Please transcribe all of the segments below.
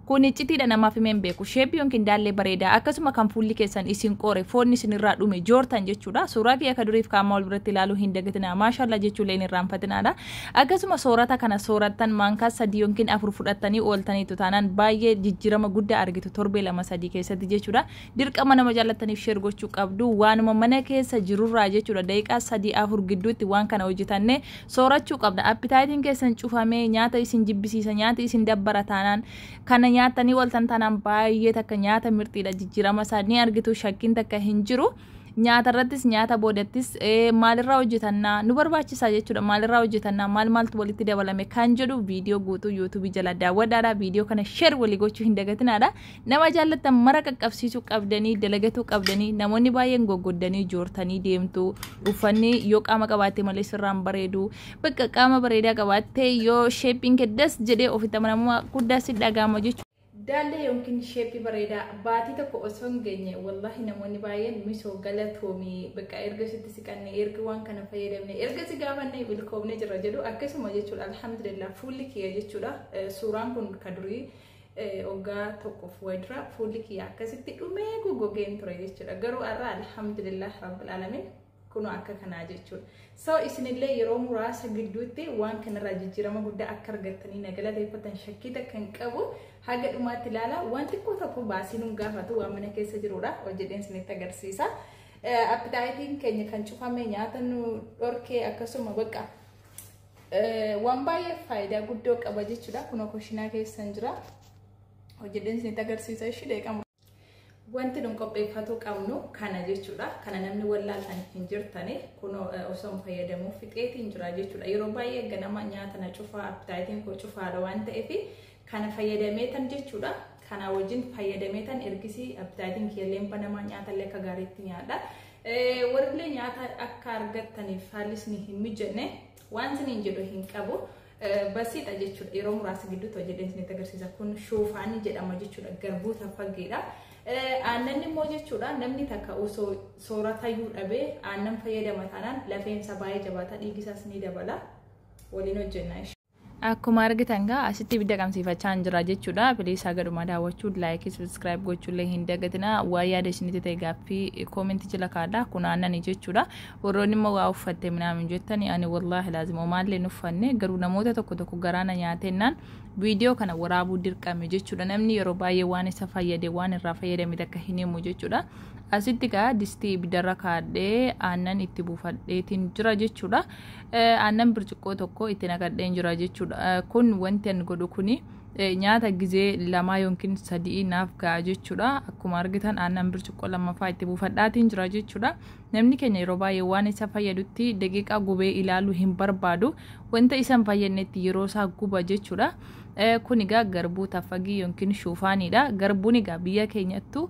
Kun iccitiidha namaaf himeen beeku. Sheeppi yookiin daallee bareedaa akkasuma kan fuulli keessan isin qoore foonni isin irraa dhume joortan jechuudha. Suuraa kiyya akka duriif kaamaa wal biratti ilaaluu hin dagatinaa. Maashaallaa jechuullee hin irraanfatinaadha. Akkasuma soorata kana soorattan maankaa sadii yookiin afur fudhattanii ooltaniitu taanaan baay'ee jijjiirama guddaa argitu torbee lama sadii keessatti jechuudha. Dirqama nama jaallattaniif sheer gochuu qabdu waanuma mana keessa jirurraa jechuudha daqiiqaa sadii afur gidduutti waan kana hojjetanne Soorachuu qabda. Appitaayitiin keessan cufamee nyaata isin jibbisiisa, nyaata isin dabbara taanaan, kana nyaattanii waltan taanaan baay'ee takka nyaata mirxiidha jijjiirama isaa ni argitu shakkiin takka hin jiru. Nyaata irrattis nyaata boodattis eh, maalirraa hojjetannaa nu barbaachisaa jechuudha maalirraa hojjetannaa maal maaltu walitti dabalame kan jedhu viidiyoo guutuu yuutuubii jala daawwadhaadha viidiyoo kana sheer walii gochuu hin dagatinaadha Nama jaallattan mara qaqqabsiisuu qabdanii, dalagatuu qabdanii, namoonni baay'een goggoddanii joortanii deemtu. Uffanni yoo qaama qabaatte malee sirraan bareedu. Bakka qaama bareedaa qabaatte yoo sheeppiin kee das jedhee ofitti amanamummaa guddaa si dhaga'ama jechuudha. Daallee yookiin sheeppii bareedaa baatii tokko osoo hin geenye wallahi namoonni baay'een misoo galatoomi bakka erga sitti siqanne erga waan kana fayyadamne erga si gaafanne milkoomne jirra jedhu akkasuma jechuudha alhamdulillah fuulli kiyya jechuudha suuraan kun ka durii Oggaa tokkoof wayidura fuulli kiyya akkasitti dhumee goggogeen ture jechuudha. Garuu har'a alhamdulillah rabbil alamin kunoo akka kanaa jechuudha. So isinillee yeroo muraasa gidduutti waan kanarraa jijjiirama guddaa akka argattanii na galateeffatan shakkii takka hin qabu. Haga dhumaatti ilaala. Waan xiqqoo tokko baasii nun gaafatu waan mana keessa jirudha. Hojjedheen isinitti agarsiisa. Appitaayitiin keenya kan cufame nyaata nu dhorkee akkasuma bakka Waan baay'ee faayidaa guddoo qaba jechuudha. Kunoo kushiinaa keessan jira. Hojjedheen isinitti agarsiisa ishii deeqamu. Wanti nun qopheeffatu qabnu kana jechuudha. Kana namni wallaaltan hin jirtani. Kunoo osoo hin fayyadamuu fixeetiin jira jechuudha. Yeroo baay'ee ganama nyaata na cufaa appitaayitiin koo cufaadha waan ta'eef kana fayyadameetan jechuudha. Kana wajjin fayyadameetan ergisii appitaayitiin kiyyalleen banamaa nyaatallee akka gaariitti nyaadha. Warrillee nyaata akka argattaniif haalli isin hin mijanne waan isin hin jedhu hin qabu. Basiidha jechuudha yeroo muraasa gidduutti hojjetee isinitti agarsiisa kun shoofaanii jedhama jechuudha garbuu taffageedha. Aannan immoo jechuudha namni takka osoo sooratayyuu dhabee aannan fayyadama taanaan lafeensa baay'ee jabaata dhiigisaas ni dabala waliin hojjenna. Akkuma argitan gaa asitti ibidda qabsiifachaa hin jira jechuudha. Piliis haga dhumaa daawwachuu, laayikii, subscribe gochuullee hin dagatina. Waa yaada isinitti ta'e gaaffii koomentii jala kaadha. Kun aannani jechuudha. Warroonni immoo waa uffatte minaamin jettani ani wallaahi laazima omaallee hin uffanne garuu namoota tokko tokko garaana nyaatennaan viidiyoo kana waraabuu dirqame jechuudha. Namni yeroo baay'ee waan isa fayyade waan irraa fayyadame takka hin himu jechuudha. Asitti gaa distii ibiddarra kaadhee aannan itti buufadheetiin jira jechuudha. Aannan birciqqoo tokko itti naqadheen jira jechuudha. Kun wanti an godhu kuni nyaata gizee lamaa yookiin sadii naaf ga'a jechuudha. Akkuma argitan aannan birciqqoo lammaffaa itti buufadhaatiin jira jechuudha. Namni keenya yeroo baay'ee waan isa fayyadutti daqiiqaa gubee ilaaluu hin barbaadu. Wanta isa hin fayyadnetti yeroo isaa guba jechuudha. Kun egaa garbuu taffagii yookiin shuufaaniidha. Garbuun egaa biyya keenyattu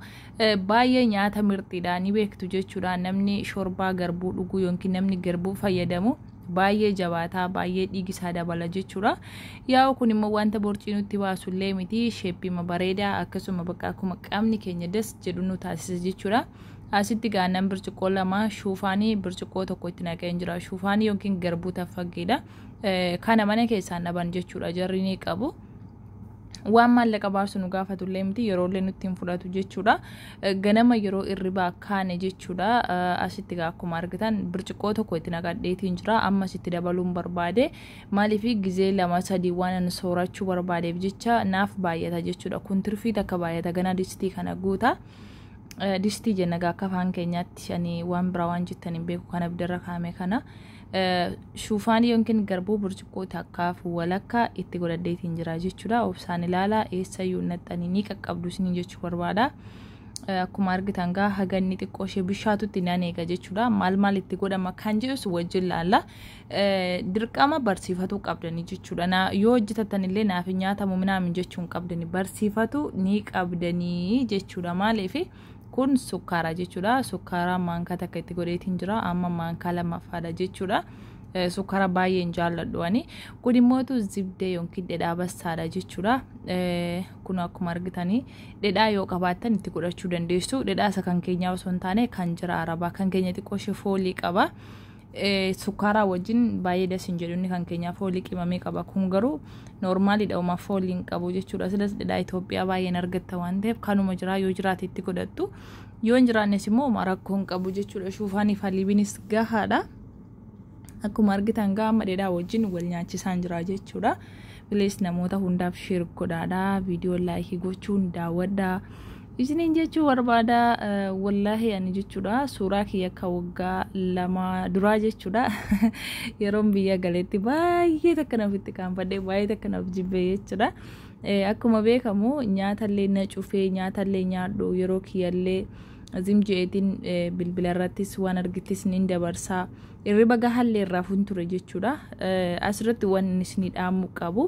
Baay'ee nyaata mirxiidha ni beektu jechuudha namni shorbaa garbuu dhuguu yookiin namni garbuu fayyadamu baay'ee jabaataa baay'ee dhiigisaa dabala jechuudha. Yaa'u kun immoo wanta borcii nutti baasu illee miti sheeppiima bareedaa akkasuma bakka akkuma qaamni keenya das jedhu nu taasisa jechuudha. Asitti gaannan birciqoo lama shuufaanii birciqoo tokko itti naqeen jira. Shuufaanii yookiin garbuu taffaggeedha. Kana mana keessaan dhaban jechuudha jarri ni qabu. waan maallaqa baasu nu gaafatu illee miti yeroo illee nutti hin fudhatu jechuudha. Ganama yeroo irribaa kaane jechuudha. Asitti gaa akkuma argitan birciqqoo tokko itti naqadheetiin jira. Ammas itti dabaluun barbaade. Maaliif gizee lama sadii waan ani soorachuu barbaadeef jecha naaf baay'ata jechuudha. Kun tirfii takka baay'ata ganaa distii kana guuta. Distii jenna gaa akka afaan keenyaatti ani waan biraa waan jettan hin beeku kana abiddarra kaa'ame kana. Shuufaanii yookiin garbuu burcuqqoo takkaaf walakkaa itti godhadheetiin jira jechuudha. Obsaan ilaalaa eessayyuu hin dhaxxanii ni qaqqabdu isiniin jechuu barbaada. Akkuma argitan gaa haganni xiqqoo ishee bishaatutti nan eega jechuudha. Maal maal itti godhama kan jedhus wajjin laalla. Dirqama barsiifatuu qabdanii jechuudha. Na, yoo hojjetattan illee naaf hin nyaatamu minaamin jechuu hin qabdanii. Barsiifatu ni qabdanii jechuudha. Maaliifi? Kun sukkaaraa jechuudha. Sukkaaraa maankaa takka itti godheetiin jira. Amma maankaa lammaffaadha jechuudha. Sukkaara baay'een jaalladhu ani. Kun immoo zibdee yookiin dhedhaa bassaadha jechuudha. Kun akkuma argitanii dhedhaa yoo qabaattan itti godhachuu dandeessu. Dhedhaa isa kan keenyaa osoo hin taane kan jira arabaa. Kan keenya xiqqoo ishee foolii qaba. Sukkaaraa wajjin baay'ee das hin jedhu inni kan keenyaa foolii qimamee qaba kun garuu noormaaliidha uma foolii hin qabu jechuudha silas dhedhaa Itoophiyaa baay'een argatta waan ta'eef kanuma jiraa yoo jiraate itti godhattu yoo hin jiraannes immoo uma rakkoo hin qabu jechuudha shuufaaniif haliibinis gahaadha. Akkuma argitan gaa amma dhedhaa wajjin wal nyaachisaan jira jechuudha. Bilees namoota hundaaf sheer godhaadha viidiyoo laayikii gochuun daawwadhaa. Isiniin jechuu barbaada wallaahi ani jechuudha suuraa kiyya akka waggaa lama duraa jechuudha yeroon biyya galetti baay'ee takka naaf itti kaanfadhe baay'ee takka naaf jibbee jechuudha. Akkuma beekamu nyaatallee na cufee nyaatallee nyaadhu yeroo kiyyallee zim je'eetiin bilbila irrattis waan argittis nin dabarsaa irriba gahallee irraa fun ture jechuudha. Asirratti waan isinii dhaamu qabu.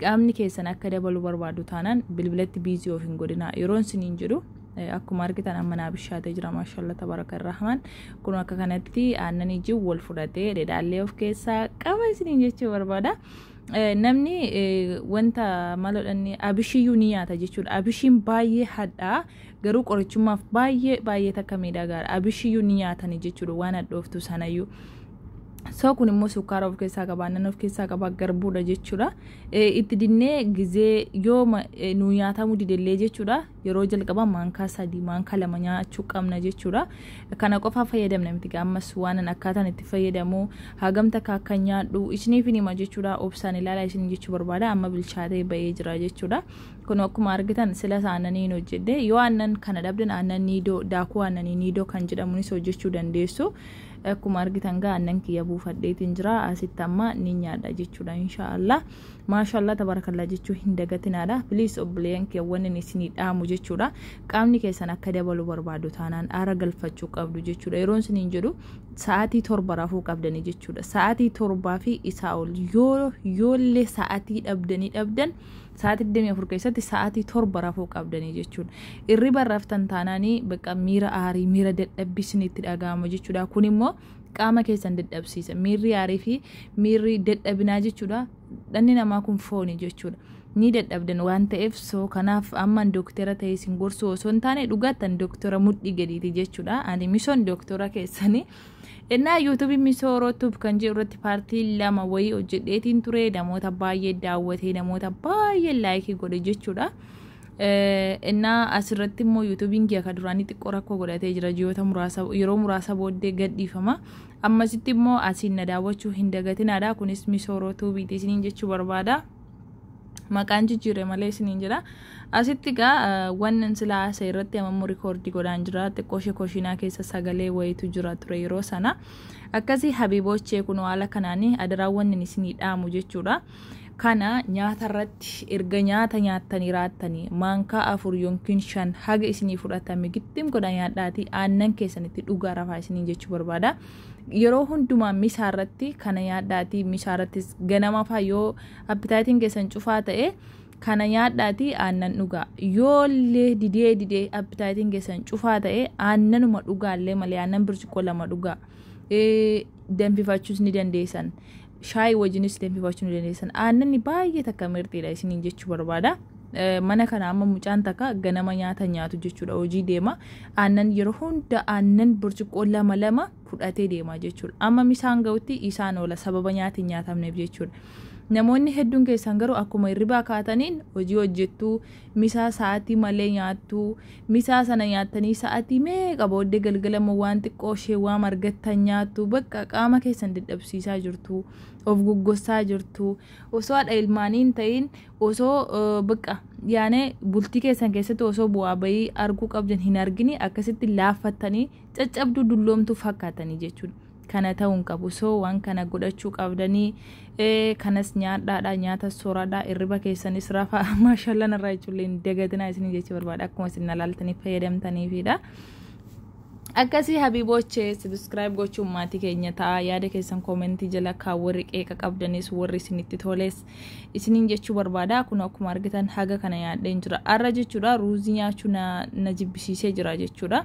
Qaamni keessan akka dabalu barbaadu taanaan bilbilatti biizii of hin godhinaa. Yeroon siniin jedhu akkuma argitan amma naa bishaatee jira maashaallah tabaraka irrahman kun akka kanatti aannan ijii wal fudhatee dhedhaallee of keessaa qaba isiniin jechuu barbaada. Namni wanta maloodhanni abishiyyuu ni nyaata jechuudha. Abishiin baay'ee hadhaa garuu qorichummaaf baay'ee baay'ee takka miidhagaadha. Abishiyyuu ni nyaatani jechuudha waan hadhooftu sanayyuu. Soo kun immoo sukkaara of keessaa qaba, aannan of keessaa qaba, garbuudha jechuudha. Itti dinnee gizee yoo nu nyaatamuu didellee jechuudha. Yeroo jalqabaa maankaa sadii, maankaa lama nyaachuu qabna jechuudha. Kana qofaa fayyadamna miti ammas waanan akkaataan itti fayyadamu hagamta akka akka nyaadhu isiniif hima jechuudha. Obsaan ilaala isin jechuu barbaada amma bilchaatee ba'ee jira jechuudha. Kun akkuma argitan silas aannanii hin hojjedhe yoo aannan kana dhabdan aannan niidoo daakuu aannanii niidoo kan jedhamunis hojjechuu dandeessu. Akkuma argitan gaa annan kiyya buufadheetiin jira asitti amma ni nyaadha jechuudha inshaallah maashaallah tabarakallah jechuu hin dagatinaadha please obboleeyyan kiyya wannin isinii dhaamu jechuudha qaamni keessan akka dabalu barbaadu taanaan aara galfachuu qabdu jechuudha yeroon isiniin jedhu sa'aatii torba rafuu qabdanii jechuudha sa'aatii torbaa fi isaa ol yoo yoollee sa'aatii dhabdanii dhabdan Sa'aatii 24 keessatti sa'aatii 7 rafuu qabdanii jechuudha. Irriban raftan taanaan bakka miira aarii, miira dadhabbii isinitti dhaga'ama jechuudha. Kun immoo qaama keessan dadhabsiisa. Miirri aarii fi miirri dadhabinaa jechuudha. Dhanni namaa kun fooni jechuudha. Ni dadhabdan waan ta'eef soo kanaaf amman dooktera ta'ee isin gorsuu osoo hin taane dhugaattan dooktera mudhii gadiiti jechuudha. Ani misoon dooktera keessanii Ennaa yuutuubiin misooroo tub kan jedhu irratti paartii lama wayii hojjedheetiin ture namoota baay'ee daawwatee namoota baay'ee laayikii godhe jechuudha. Ennaa asirratti immoo yuutuubiin kiyya kan duraanii xiqqoo rakkoo godhatee jira ji'oota muraasa yeroo muraasa booddee gadhiifama. Ammasitti immoo asiin na daawwachuu hin dagatinaadha kunis misooroo tuubiiti isiniin jechuu barbaada. maqaan jijjiire malee isiniin jira asitti egaa wannan sila haasa'e irratti amammoo rikoordii godhaan jira xiqqoo ishee koshiinaa keessa sagalee wayitu jira ture yeroo sana akkasii habiiboochee kun haala kanaanii adaraa wannan isinii dhaamu jechuudha kana nyaata irratti erga nyaata nyaattanii raattanii maankaa afur yookiin shan haga isinii fudhatame gittim godha nyaadhaatii aannan keessanitti dhugaa rafaa isiniin jechuu barbaada yeroo hundumaa misaa irratti kana nyaadhaatii misaa irrattis ganama faa yoo appitaayitiin keessan cufaa ta'e kana nyaadhaatii aannan dhugaa yoollee didee didee appitaayitiin keessan cufaa ta'e aannanuma dhugaallee malee aannan birciqoo lama dhugaa danfifachuus ni dandeessan shaayii wajjinis danfifachuu ni dandeessan. Aannanni baay'ee takka mirxiidha isiniin jechuu barbaada. Mana kana amma mucaan takka ganama nyaata nyaatu jechuudha hojii deema. Aannan yeroo hunda aannan burcuqqoo lama lama fudhatee deema jechuudha. Amma misaan ga'utti isaan oola sababa nyaati hin nyaatamneef jechuudha. Namoonni hedduun keessan garuu akkuma hirribaa kaataniin hojii hojjettu misaa sa'atii malee nyaattuu misaa sana nyaattanii sa'atii meeqa booddee galgala immoo waan xiqqoo ishee waam argattan nyaattu bakka qaama keessan dadhabsiisaa jirtu of goggossaa jirtu osoo haadha ilmaanii hin ta'in osoo eh, bakka yaane bultii keessan keessatti osoo bu'aa bayii arguu qabdan hin argini akkasitti laaffattanii caccabduu dulloomtuu fakkaatanii jechuudha. kana ta'uu hin qabu so waan kana godhachuu qabdanii ee kanas nyaadhaadha nyaata sooradha irriba keessanis rafa maashaallah narraa jechuullee hin dagatinaa isin jechuu barbaada akkuma isin nalaaltanii fayyadamtaniifidha. Akkasii habiiboochee subscribe gochuun maatii keenya ta'a yaada keessan koomentii jala kaa warri qeeqa qabdanis warri isinitti toles isiniin jechuu barbaada kun akkuma argitan haga kana yaadheen jira arra jechuudha ruuzii nyaachuu na, na jibbisiisee jira jechuudha.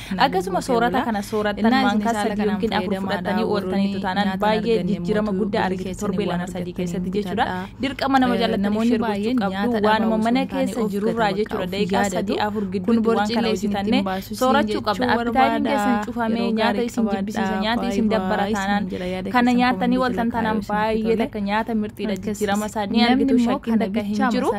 Akkasuma soorata kana soorattan waan kaastan yookiin afur fudhattanii ooltaniitu taanaan baay'ee jijjiirama guddaa argite torbee lama sadii keessatti jechuudha. Dirqama nama jaallataniif sheer gochuu qabdu waanuma mana keessa jirurraa jechuudha daqiiqaa sadii afur gidduutti waan kana hojjetanne soorachuu qabda. Appitaayitiin keessan cufamee nyaata isin jibbisiisa nyaata isin dabbara taanaan kana nyaatanii ooltan taanaan baay'ee takka nyaata mirxiidha jijjiirama isaa ni argitu shakkiin takka hin jiru.